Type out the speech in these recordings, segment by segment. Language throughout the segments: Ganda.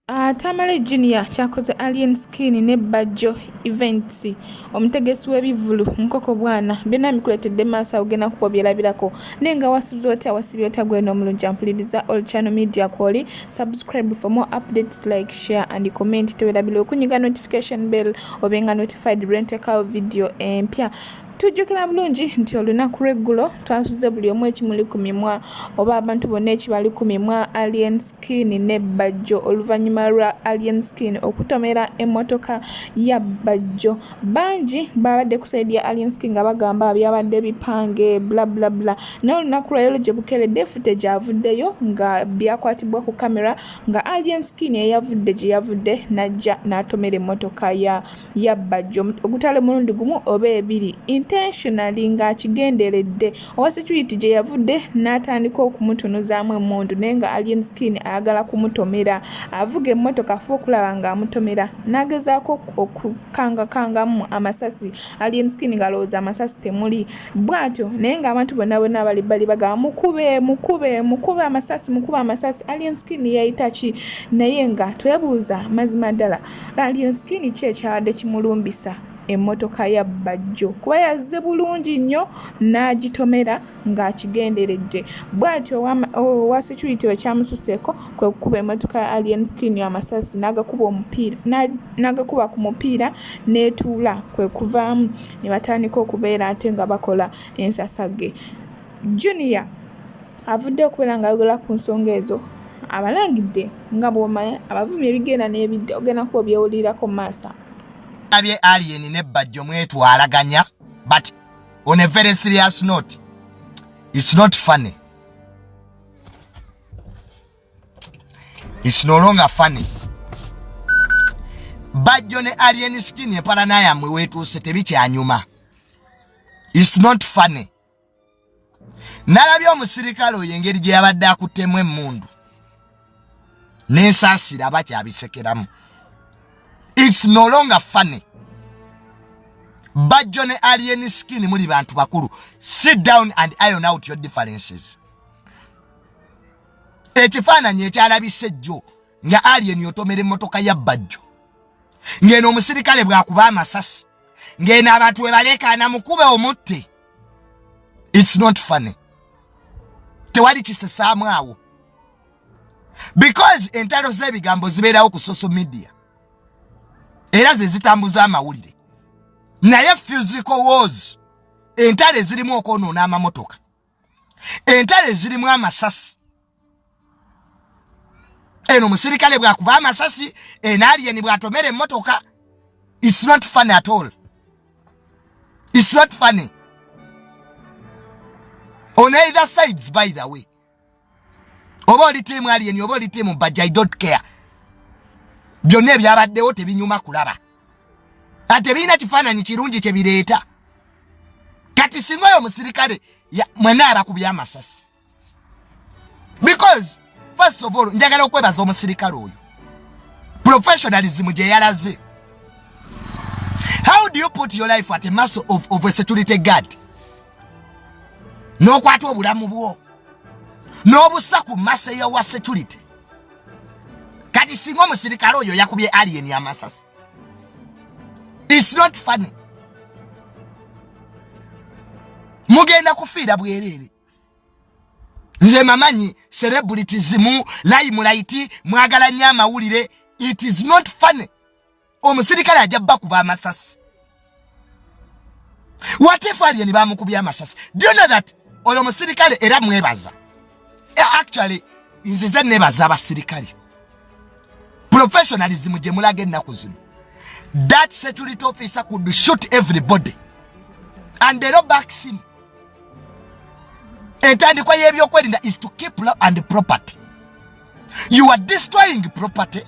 Ah, Tamale Junior kyakoze Alien Skin ne Bajjo Events omutegesi w'ebivvulu nkoko bwana byonna mbikuleetedde maaso awo genda kuba obyerabirako naye nga wasiza otya wasibye otya gwena omulungi ampuliriza all channel media kwoli subscribe for more updates like share and comment tewerabira okunyiga notification bell obenga notified lwentekawo video empya tujjukira bulungi nti olunaku lweggulo twasuze buli omu ekimuli ku mimwa oba abantu bonna ekibali ku mimwa alien skin ne bajjo oluvannyuma lwa alien skin okutomera emmotoka ya bajjo bangi babadde ku saidi ya alien skin nga bagamba byabadde bipange blablabla naye olunaku lwayo lu gye bukeredde fute gyavuddeyo nga byakwatibwa ku kamera nga alien skin eyavudde gye yavudde n'ajja n'atomera emmotoka ya yabbajja ogutali mulundi gumu oba ebiri intentionally ng'akigenderedde owa security gye yavudde n'atandika okumutunuzaamu emmundu naye nga alien skin ayagala kumutomera avuga emmotoka afuba okulaba ng'amutomera n'agezaako okukangakangamu amasasi alien skin ng'alowooza amasasi temuli bw'atyo naye ng'abantu bonna bonna bali bali bagaba mukube mukube mukube amasasi mukube amasasi alien skin yayita ki naye nga twebuuza mazima ddala Langira nzikini ki ekyabadde kimulumbisa emmotoka ya Bajjo kuba yazze bulungi nnyo n'agitomera ng'akigenderedde. Bw'atyo owa security bwe kyamususeeko kwe kukuba emmotoka ya Alien Skin amasasi n'agakuba omupiira n'agakuba ku mupiira n'etuula kwe kuvaamu ne batandika okubeera ate nga bakola ensasagge. Junior avuddeyo okubeera ng'ayogera ku nsonga ezo abalangidde nga bw'omanyi abavumi ebigenda n'ebidda ogenda kuba obyewulirirako mu maaso. Abye Alien ne Bajjo mwetwalaganya but on a very serious note it's not funny it's no longer funny Bajjo ne Alien Skin empalana yammwe weetuuse tebikyanyuma it's not funny nalabye omusirikale oyo engeri gye yabadde akuttemu emmundu nensaasira aba kyabisekeramu its no longer funny bajjo ne alien skin muli bantu bakulu sit down and iron out your differences ekifaananyi ekyalabise jjo nga alien otomera emmotoka ya bajjo ng'eno omusirikale bwakuba amasasi ng'eno abantu we baleekaana mukube omutte its not funny tewali kisesaamu awo because entalo z'ebigambo zibeerawo ku social media era ze zitambuza amawulire naye physical wars entalo ezirimu okwonoona amamotoka entale zirimu amasasi eno omusirikale bwakuba amasasi enaliyeni bwatomera emotoka its not funny at all its not funny on either sides by the way oba oli tiimu aliyeni oba oli tiimu bajja idot care byonna ebyabaddewo tebinyuma kulaba kati tebirina kifaananyi kirungi kye bireeta kati singa oyo omusirikale mwena abakubya amasasi because first of all njagala okwebaza omusirikale oyo professionalism gye yalaze how do you put your life at a mass of, of a security guard n'okwata obulamu bwo n'obusa ku maseya wa security kati singa omusirikale oyo yakubye alien amasasi its not funny mugenda kufiira bwereere nze mamanyi serebuliti zimu layimulayiti mwagala nnyo amawulire it is not funny omusirikale ajja bakuba amasasi what if alien bamukubye amasasi do you know that oyo omusirikale era mwebaza eh, actually nzize nebaza abasirikale professionalism gye mulaga ennaku zino that security officer could shoot everybody and ero backs him entandikwa y'ebyokwerinda is to keep law and property you are destroying property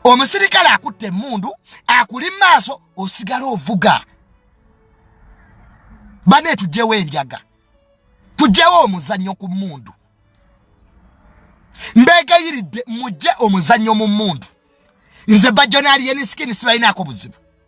omusirikale akutte emmundu akuli maaso osigala ovuga bane tujjewo enjaga tujjewo omuzannyo ku mmundu mbeegayiridde mujje omuzannyo mu mmundu nze bajjo naaliyeniskin sibalinaako buzibu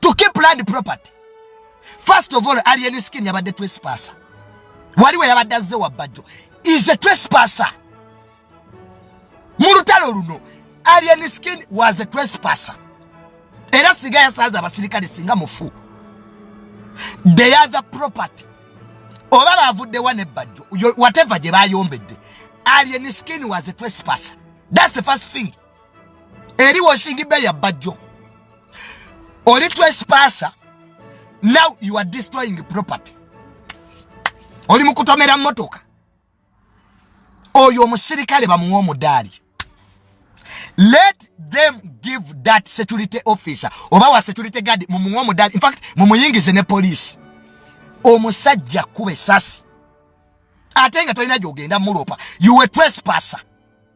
to keep land property first of all alien skin yabadde twesipasa waliwo yabadde azze wabbajjo is a twesipasa mu lutalo luno alien skin was a twesipasa era singa yasanze abasirikale singa mufu they are the property oba bavuddewa nebbajjo whatever gye bayombedde alien skin was a twesipasa that's the first thing eri washingi be ya bajjo oli trespasa now you are destroying property oli mukutomera motoka oyo omusirikale bamuwa omudaali let them give that security officer oba wa security guard mumuwa omudaali infact mumuyingize ne poliisi omusajja kuba esasi ate nga tolina gyogenda muloopa you were trespasser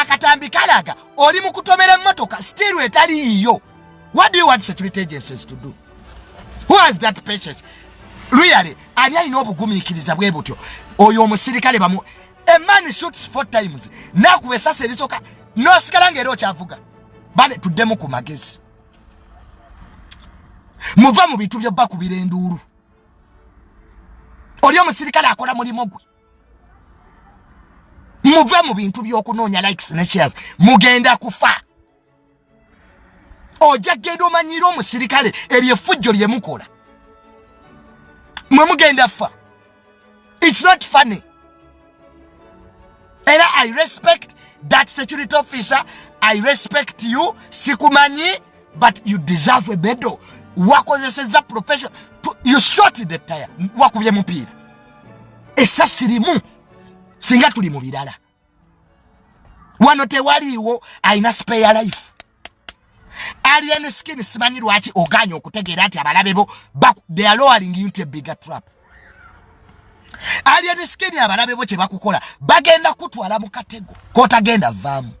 akatambi kalaga oli mu kutobera emmotoka still etali yiyo what do you want security agencies to do who has that patience really ani alina obugumiikiriza bwe butyo oyo omusirikale bamu a man shoots four times nakuba esasi erisoka nosigala nga era okyavuga bale tuddemu ku magezi muva mu bintu byobakubira enduulu oli omusirikale akola mulimu gwe muve mu bintu by'okunoonya likes ne shares mugenda kufa ojja kgenda omanyiira omusirikale eryo effujjo lye mukola mwe mugenda fa its not funny era i respect that security officer i respect you sikumanyi but you deserve a bedo wakozeseza profession you shot the tire wakubye mupiira esasi limu singa tuli mu birala wano tewaliiwo alina spare life alien skin simanyi lwaki oganye okutegeera nti abalabe bo they are lowering you to a bigger trap alien skin abalabe bo kye bakukola bagenda kutwala mu katego kotagenda vaamu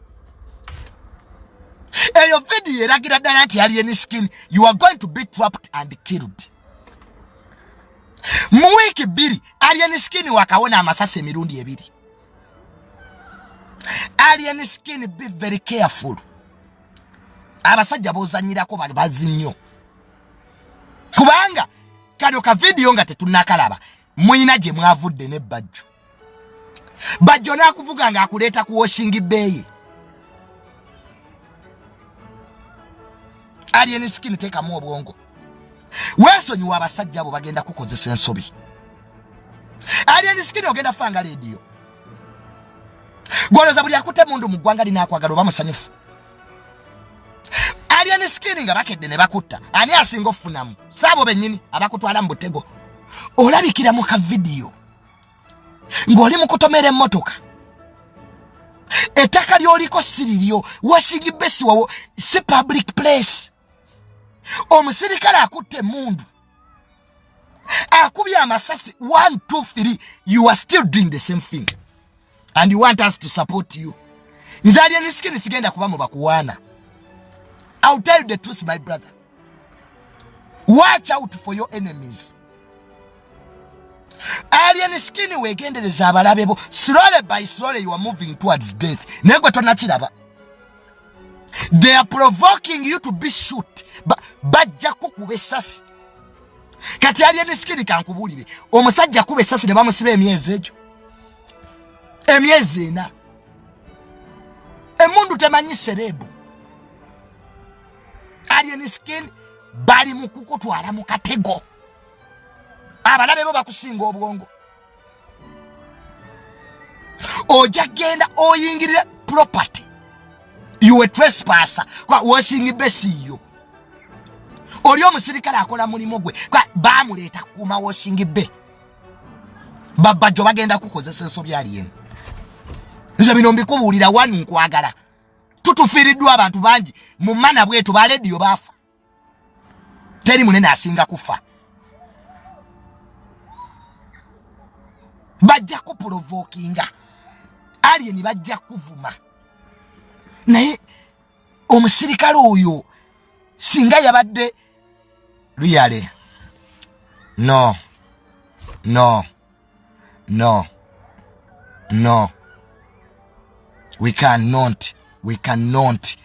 eyo vidiyo eragira ddala nti alien skin you are going to be trapped and killed mu wiiki bbiri alien skin wakawona amasasi emirundi ebiri alien skin be very careful abasajja bozanyirako bazi nnyo kubanga kano ka vidiyo nga tetunakalaba muyina gye mwavudde ne bajjo bajjo nakuvuga nga akuleeta ku washingi beeye alien skin tekamu obwongo wesonyiwa abasajja abo bagenda kukozesa ensobi alien skin ogenda fanga lediyo gwoloza buli akute mundu mu ggwanga linakwagala oba musanyufu alien skin nga bakedde ne bakutta ani asinga ofunamu saabo bennyini abakutwala mu butego olabikira mu kavidiyo ng'oli mu kutomera emmotoka ettaka lyoliko si liryo washing besi wawo si public place omusirikale akutte emundu akubye amasasi 123 you are still doing the same thing and you want us to support you nze alya nisikini sigenda kuba mubakuwaana ill tell you the truth my brother watch out for your enemies alien skin wegendereza abalabe bo slowly by slowly you are moving towards death naye gwe tonakiraba they are provoking you to be shoot bajja kukuba esasi kati ali enisikini kankubulire omusajja kuba esasi ne bamusiba emyezi egyo emyezi ena emundu temanyi serebu ali enisikini bali mukukutwala mukatego abalabe bo bakusinga obwongo oja genda oyingirire property iwe trespasa kwa washing besi yo oli omusirikale akola mulimu gwe kwa bamuleeta kuma washing be babajjo bagenda kukozesa ensobi aliyemu nze bino mbikubuulira wanu nkwagala tutufiiriddwa abantu bangi mu mana bwetu ba lediyo baafa teri munene asinga kufa bajja kuprovokinga alien bajja kuvuma naye omusirikale oyo singa yabadde luyale no no no no we cannot we cannot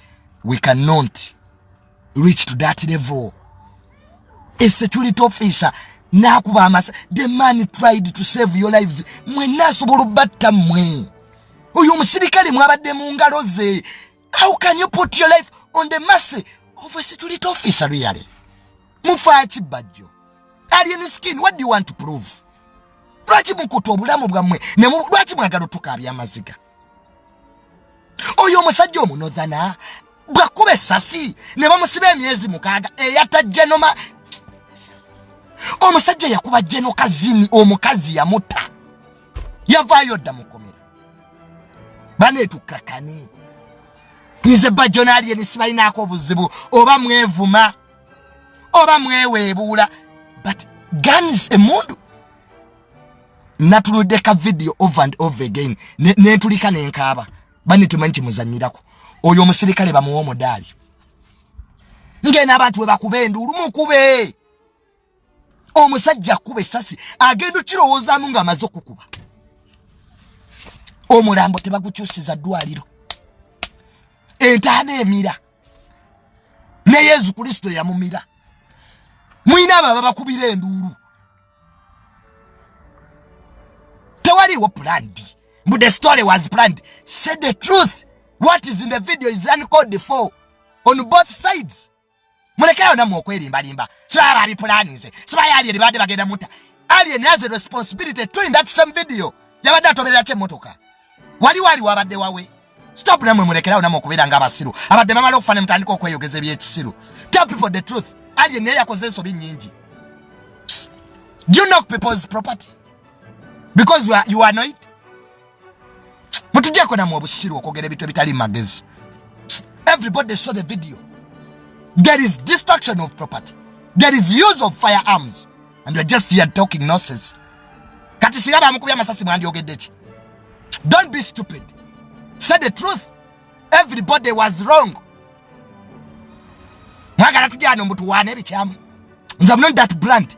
we cannot reach to that level a security officer nakuba amasa the man tried to save your lives mwenna asobola obatta mmwe oyo omusirikale mwabadde mu ngalo ze how can you put your life on the mercy of a security officer really mufaaki bajjo alien skin what do you want to prove lwaki mukuta obulamu bwammwe lwaki mwagala otukaabya amaziga oyo omusajja omunodhana bwakuba esasi ne bamusiba emyezi mukaaga eyata genoma omusajja yakuba genokazini omukazi yamutta yavaayo dda mukomera banetukakane nze bajonalien sibalinaako obuzibu oba mwevuma oba mweweebuula but guns emundu natunudde ka video over and over again nentulika ne nenkaaba bane temanyi kimuzanyirako oyo omusirikale bamuwa omudaali ngena abantu webakuba enduulu mukube omusajja akuba esasi agenda okirowoozamu ng'amaze okukuba omulambo tebagukyusiza ddwaliro entaana emira ne yesu kristo yamumira mulina abo ababakubira enduulu tewaliwo planned but the story was planned say the truth what is in the video is uncalled for on both sides mulekeyo namwe okwerimbalimba sibaba abipulaninze sibaya alien baadde bagenda muta alien has a responsibility to in that same video yabadde atobererako emmotoka wali wali wabadde wawe stop namwe mulekerawo namwe okubeera nga abasiru abadde bamala okufana mutandika okweyogeza ebyekisiru tell people the truth alien naye yakoze ensobi nyingi do you knock people's property because you are, you are not mutujeko namwe obusiru okwogera ebintu ebitali magezi everybody saw the video there is destruction of property there is use of firearms and you're just here talking nonsense kati singa bamukubya amasasi mwandyogedde ki don't be stupid say the truth everybody was wrong mwagala tujano mbutuwaana ebikyamu nze am not that blunt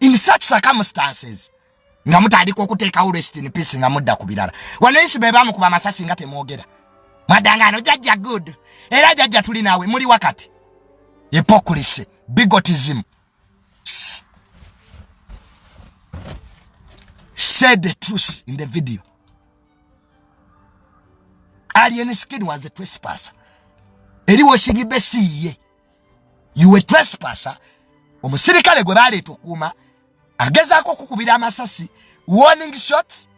in such circumstances nga mutandika okuteekawo rest in peace nga mudda ku birala wano ensi be bamukuba amasasi nga temwogera mwadangano jajja good era jajja tuli naawe muli wakati hypocrisy bigotism said the truth in the video alien skin was a trespasser eri washing besiiye yuwe trespasa omusirikale gwe baleeta okuuma agezaako okukubira amasasi warning shots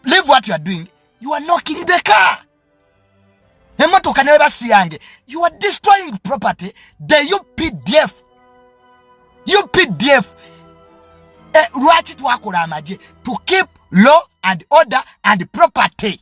leave what you are doing you are knocking the car emotoka nawe basi yange you are destroying property the updf updf eh, lwaki twakola amagye to keep law and order and property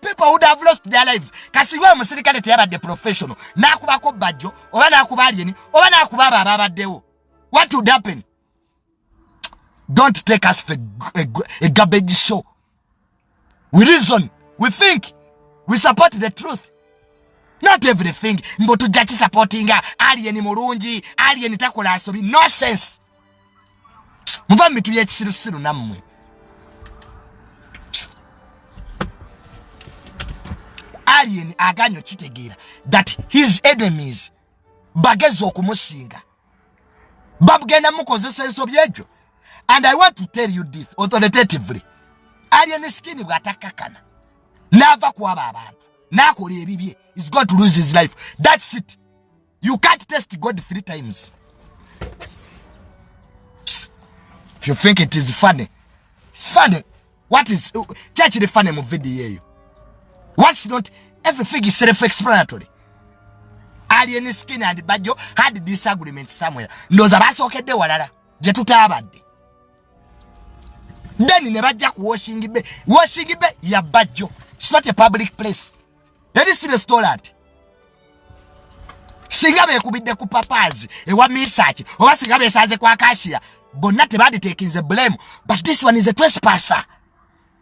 people would have lost their lives kasinga omusirikale teyabadde professional nakubako bajjo oba nakuba alyeni oba nakuba abo ababaddewo what would happen don't take us for a, a garbage show we reason we think we support the truth not everything mbu tujja kisupportinga alien mulungi alien takola asobi no sense muva mu mitu byekisirusiru nammwe alien aganye okitegeera that his enemies bagezi okumusinga babugenda mukozesa ensobi egyo and i want to tell you this authoritatively alien skin bwatakkakana naava ku abo abantu nakola ebibye is going to lose his life that's it you can't test god three times if you think it is funny it's funny what is uh, church the funny mu video eyo what's not everything is self explanatory alien skin and bajo had disagreement somewhere ndoza basookedde walala gye tutaabadde then ne bajja ku washing bay washing bay ya bajo it's not a public place eri si restaurant singa bekubidde ku papazi ewa misaki oba singa besanze kwa kashiya bonna tebaditekinze blame but this one is a trespasser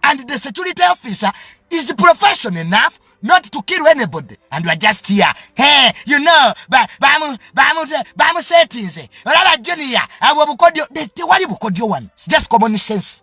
and the security officer is profession enough not to kill anybody and we're just here hey you know bamusetinze olaba junior abwo bukodyo tewali bukodyo one just common sense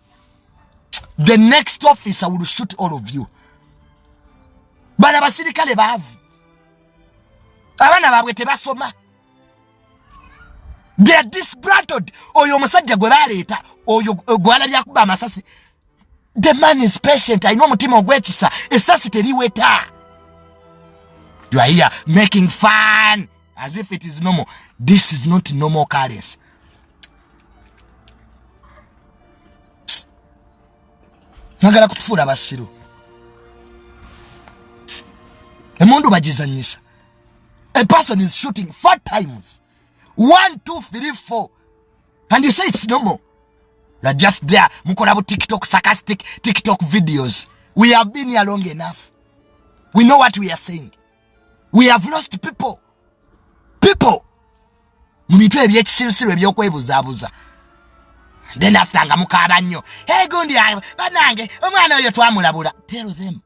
the next officer will shoot all of you bana abasirikale baavu abaana baabwe tebasoma they are disgranted oyo omusajja gwe baleeta oyo gwala lyakuba amasasi the man is patient alina omutima ogwekisa esasi teriweta you are here making fun as if it is normal this is not normal currency mwagala kutufuula abasiru emundu bagizanyisa a person is shooting four times one two three four and you say it's normal na just there mukola bu tiktok sarcastic tiktok videos we have been here long enough we know what we are saying we have lost people people mu bintu ebyekisirusiru ebyokwebuzabuza then after nga mukaaba nnyo hey gundi banange omwana oyo twamulabula tell them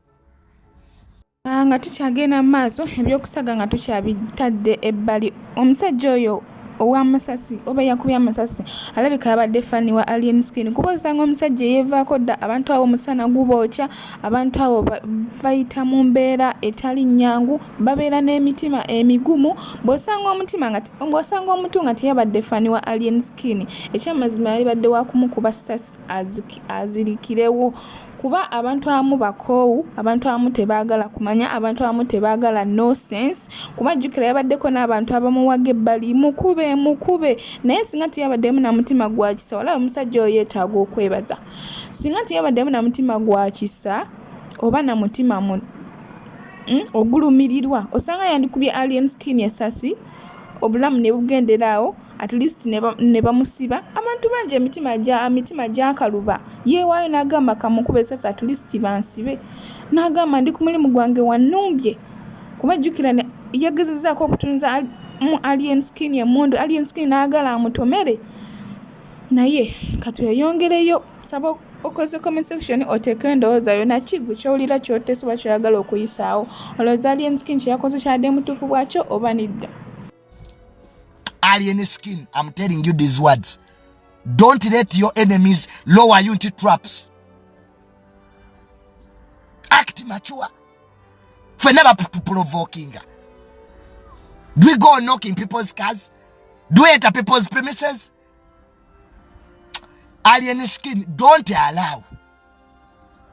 ah, nga tukyagenda mu maaso ebyokusaga nga tukyabitadde ebbali omusajja oyo owamasasi oba yakubye amasasi alabika abadde fani wa alien skin kuba osanga omusajja eyevaako dda abantu abo musana gubookya abantu abo bayita mu mbeera etali nyangu babeera n'emitima emigumu bwosanga omutima ngaosanga omutu nga teyabadde fani wa alien skin ekyamazima yalibadde wakumukuba sasi azirikirewo kuba abantu abamu bakoowu abantu abamu tebaagala kumanya abantu abamu tebaagala nosense kuba jjukira yabaddeko n'abantu abamuwaga ebbali mukube mukube naye singa teyabaddemu na mutima gwa kisa wala omusajja oyo yeetaaga okwebaza singa teyabaddemu na mutima gwa kisa oba na mutima mu hmm, ogulumirirwa osanga yandikubye alien skin esasi obulamu ne bugendera awo at least ne bamusiba abantu bangi emitima gya emitima gyakaluba yeewaayo n'agamba kamukuba esasi at least bansibe n'agamba ndi ku mulimu gwange wanumbye kuba jjukira yagezezaako okutunza mu alien skin emundu alien skin n'agala amutomere naye katweyongereyo saba okoze comment section oteeka endowooza yo naki gwe kyowulira kyotesa oba kyoyagala okuyisaawo olowooza alien skin kyeyakoze kyadde mutuufu bwakyo oba nedda alien skin i'm telling you these words don't let your enemies lower you into traps act mature fena baprovokinga do we go knocking people's cars do we enter people's premises alien skin don't allow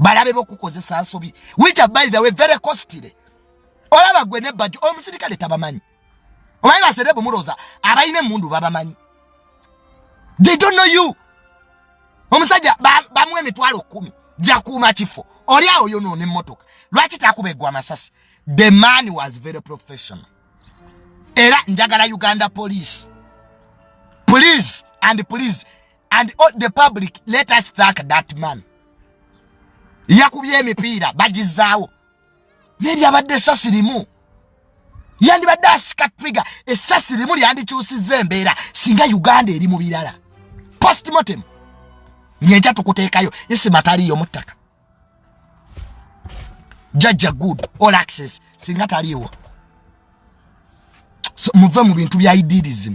balabe bokukozesa nsobi which are by the way very costly olaba gwe ne budget omusirikale tabamanyi obaye baserebu muloza abalina emundu babamanyi they don't know you omusajja bamuwa emitwalo kumi jakuuma kifo oli awo yonoona emmotoka lwaki takuba egwa amasasi the man was very professional era njagala uganda police please and please and all the public let us thank that man yakubye emipiira bagizaawo naye lyabadde esasi limu yandibadde asika trigger esasi limu lyandikyusizza embeera singa uganda eri mu birala postmortem nyenkya tukuteekayo isima taliiyo mu ttaka jajja good all access singa taliiwo so, muve mu bintu bya idirism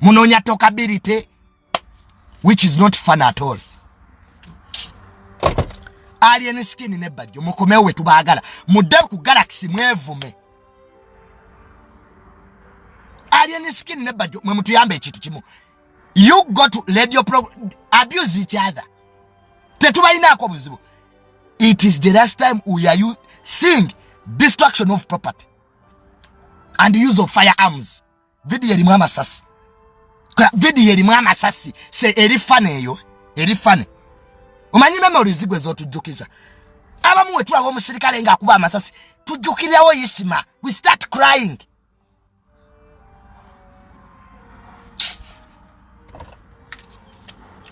munonya tokability which is not fun at all alien skin ne bajjo mukomewo wetubagala mudde ku galaxy mwevume alien skin ne bajjo mwe mutuyamba ekintu kimu you go to radio pro abuse each other tetubalinaako obuzibu it is the last time we are you seeing destruction of property and use of firearms vidiyo erimu amasasi vidiyo erimu amasasi se eri fane eyo eri fane omanyi memorizi gwe zotujjukiza abamu wetulaba omusirikale nga akuba amasasi tujjukirirawo isima we start crying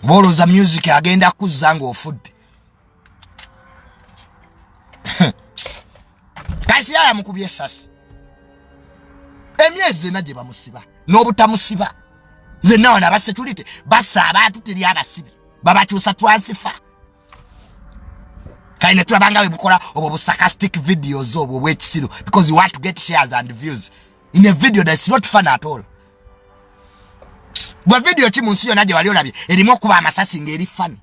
boloza music agenda kuzza ngaofudde kasiya yamukubye esasi emyezi ena gye bamusiba n'obutamusiba nze nawana abasekulite basa abantu teri abasibi babakyusa twansifa kale netulabanga wemukola obwo busarcastic videos obwo obwekisiru because you want to get shares and views in a video that's not fun at all gwe video ki mu nsi yona gye wali olabye erimu okuba amasasi ngaeri fani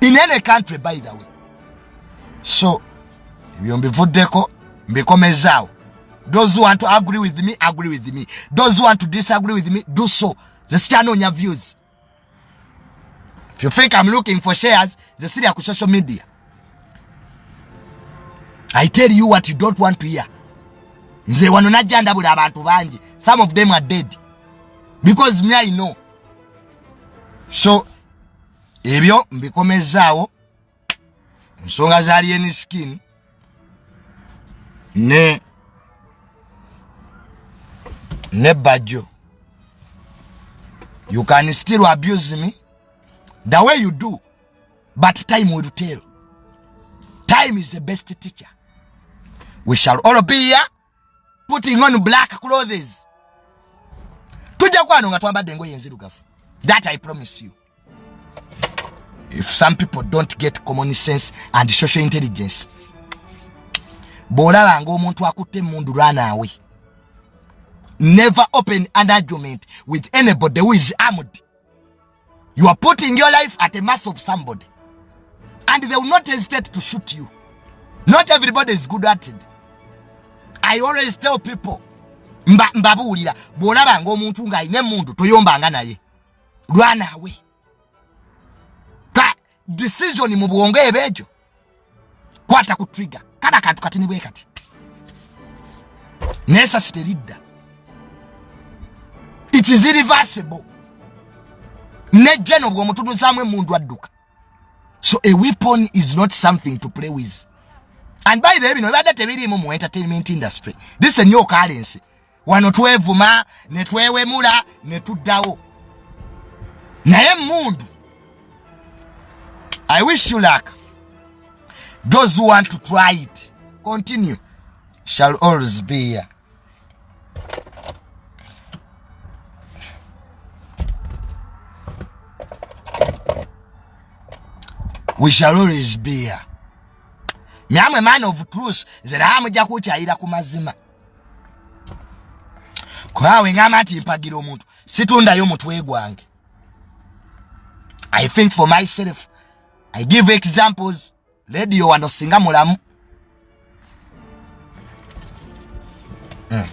in any country by the way so ebyo mbivuddeko mbikomezaawo those who want to agree with me agree with me those who want to disagree with me do so zesikyanoonya views if you think i'm looking for shares zesirya ku social media i tell you what you don't want to hear nze wano najja ndabula abantu bangi some of them are dead because me i know so ebyo mbikomezzaawo ensonga za alien skin ne ne bajjo you can still abuse me the way you do but time will tell time is the best teacher we shall all be here putting on black clothes tujja kwano nga twambadde engoye enzirugavu that i promise you if some people don't get common sense and social intelligence bwolabanga omuntu akutte emundu lwanaawe never open an argument with anybody who is armed you are putting your life at a mass of somebody and they will not hesitate to shoot you not everybody is good hearted i always tell people mba mbabuulira bw'olaba ng'omuntu ng'alina emundu toyombanga naye lwanaawe ka decision mu bwongo eba egyo kwata ku trigger kada kantu kati ni bwekati nesa siteridda it is irreversible ne jeno bwo mutundu zamwe mundu adduka so a weapon is not something to play with and by the way bino bada tebiri mu entertainment industry this is a new currency wano twevuma ne twewemula ne tuddawo naye emmundu i wish you luck those who want to try it continue shall always be here we shall always be here namwe man of truth zeraha mujja kukyayira ku mazima kwawe ngamba nti mpagira omuntu situndayo mutwe gwange i think for myself i give examples ledio wano singa mulamu mm.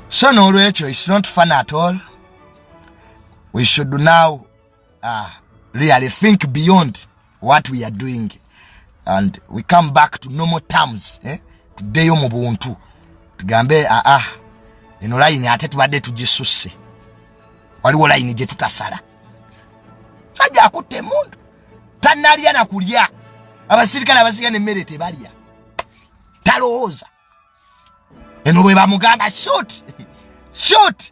so nolwekyo its not fun at all we should now uh, really think beyond what we are doing and we come back to normal terms eh? tuddeyo mu buntu tugambe aa ah, ah, eno layini ate tubadde tugisusse waliwo layini gye tutasala sajja akutte emundu tanalya na kulya abasirikale abasiga nemmere tebalya talowooza eno bwe bamugamba shot shot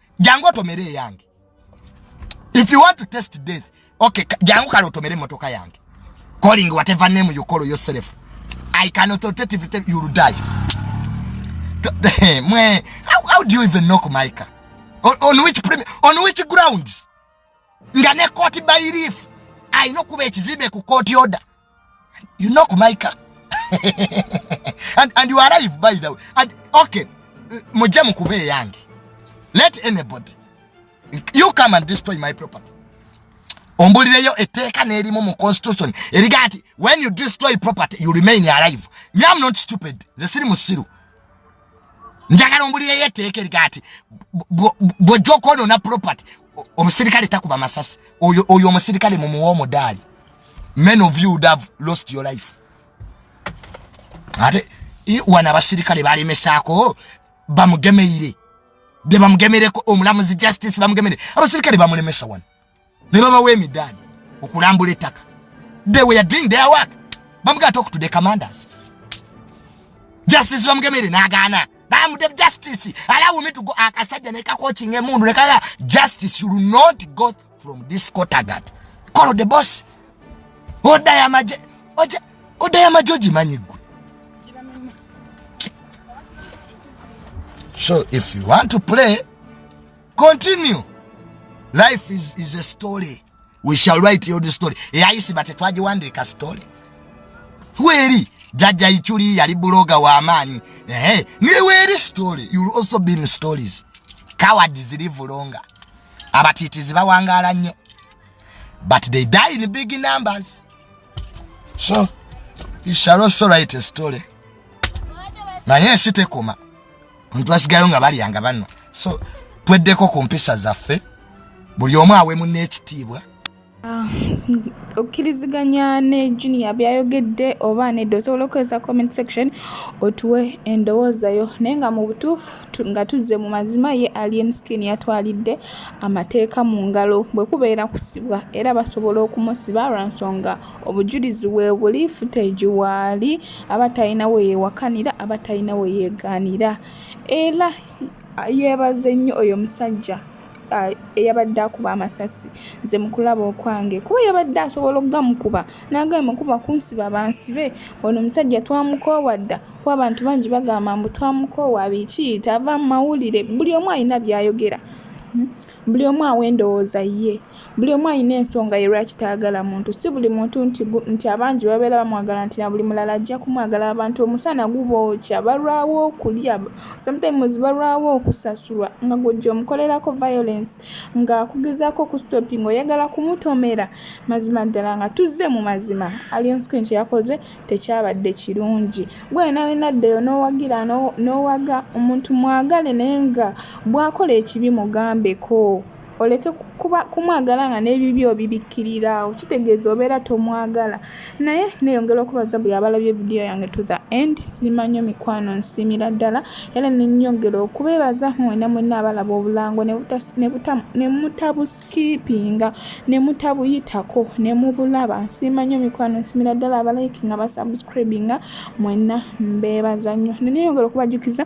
jangu otomere eyange if you want to test death okay jangu kale otomere motoka yange calling whatever name you call yourself i can authoritatively tell you will die mwe how, how do you even knock my car on, on which on which grounds nga ne kooti bayiriifu alina okuba ekizimbe ku kooti oda you know ku maika and, and you arrive by the way and okay mujje mukube eyange let anybody you come and destroy my property ombulireyo etteeka n'erimu mu constitution eriga nti when you destroy property you remain alive me am not stupid nze siri musiru njagala ombulireyo etteeka eriga ati bwojja okwonoona property omusirikale takuba masasi oyo omusirikale mumuwa omudaali men of you would have lost your life ate wano abasirikale balemesaako bamugemeire de bamugemereko omulamuzi justice bamugemere abasirikale bamulemesa wano ne babawa emidaali okulambula ettaka they were doing their work bamugaa talk to the commanders justice bamugemere n'agaana bamude justice allow me to go akasajja nekacoaching emundu nekaya justice should not go from this cotagat call the boss oda yamaje oja oda yamaje ogimanyi gwe so if you want to play continue life is, is a story we shall write your story eyayisiba tetwagiwandiika story weeri jajja ichuli yali buloga wa amaanyi ehe naye weeri story you'll also be in stories kawadi ziri vulonga abatiitizi bawangaala nnyo but they die in big numbers so you shall also write a story naye ensi tekoma bantu basigalayo nga balya nga banwa so tweddeko ku mpisa zaffe buli omu awe munna ekitiibwa ah, okkiriziganya ne junior byayogedde oba nedda osobola okukozesa comment section otuwe endowoozayo naye nga mu butuufu nga tuzze mu mazima ye alien skin yatwalidde amateeka mu ngalo bwe kubeera kusibwa era basobola okumusiba lwa nsonga obujulizi weebuli futeegi waali aba talina we yeewakanira aba talina we yeegaanira era yeebaze nnyo oyo musajja eyabadde akuba amasasi nze mukulaba okwange kuba yabadde asobola okugamukuba nagamba kuba kunsiba bansibe ono omusajja twamukoowa dda kuba abantu bangi bagamba mbu twamukoowa bikiita ava mu mawulire buli omu alina byayogera hmm? buli omu awa endowooza ye Buli omu alina ensonga ye lwaki tayagala muntu. Si buli muntu nti nti abangi babeera bamwagala nti na buli mulala ajja kumwagala. Abantu omusana gubookya, balwawo okulya, sometimes balwawo okusasulwa nga gw'ojja omukolerako violence ng'akugezaako okusitopinga oyagala kumutomera. Mazima ddala nga tuzze mu mazima, Alien Skin kye yakoze tekyabadde kirungi. Gwe wena wena ddayo n'owagira n'owaga omuntu mwagale naye nga bw'akola ekibi mugambeko. oleke kumwagala nga n'ebibi obibikkirira awo kitegeeza obeera tomwagala naye neyongera okubaza buli abalabye vidiyo yange to the end siima nnyo mikwano nsiimira ddala era nenyongera okubeebaza mwena mwena abalaba obulango nemutabuskipinga nemutabuyitako nemubulaba nsiima nnyo mikwano nsiimira ddala abalaiki nga basubscribinga mwena mbeebaza nnyo neneyongera okubajjukiza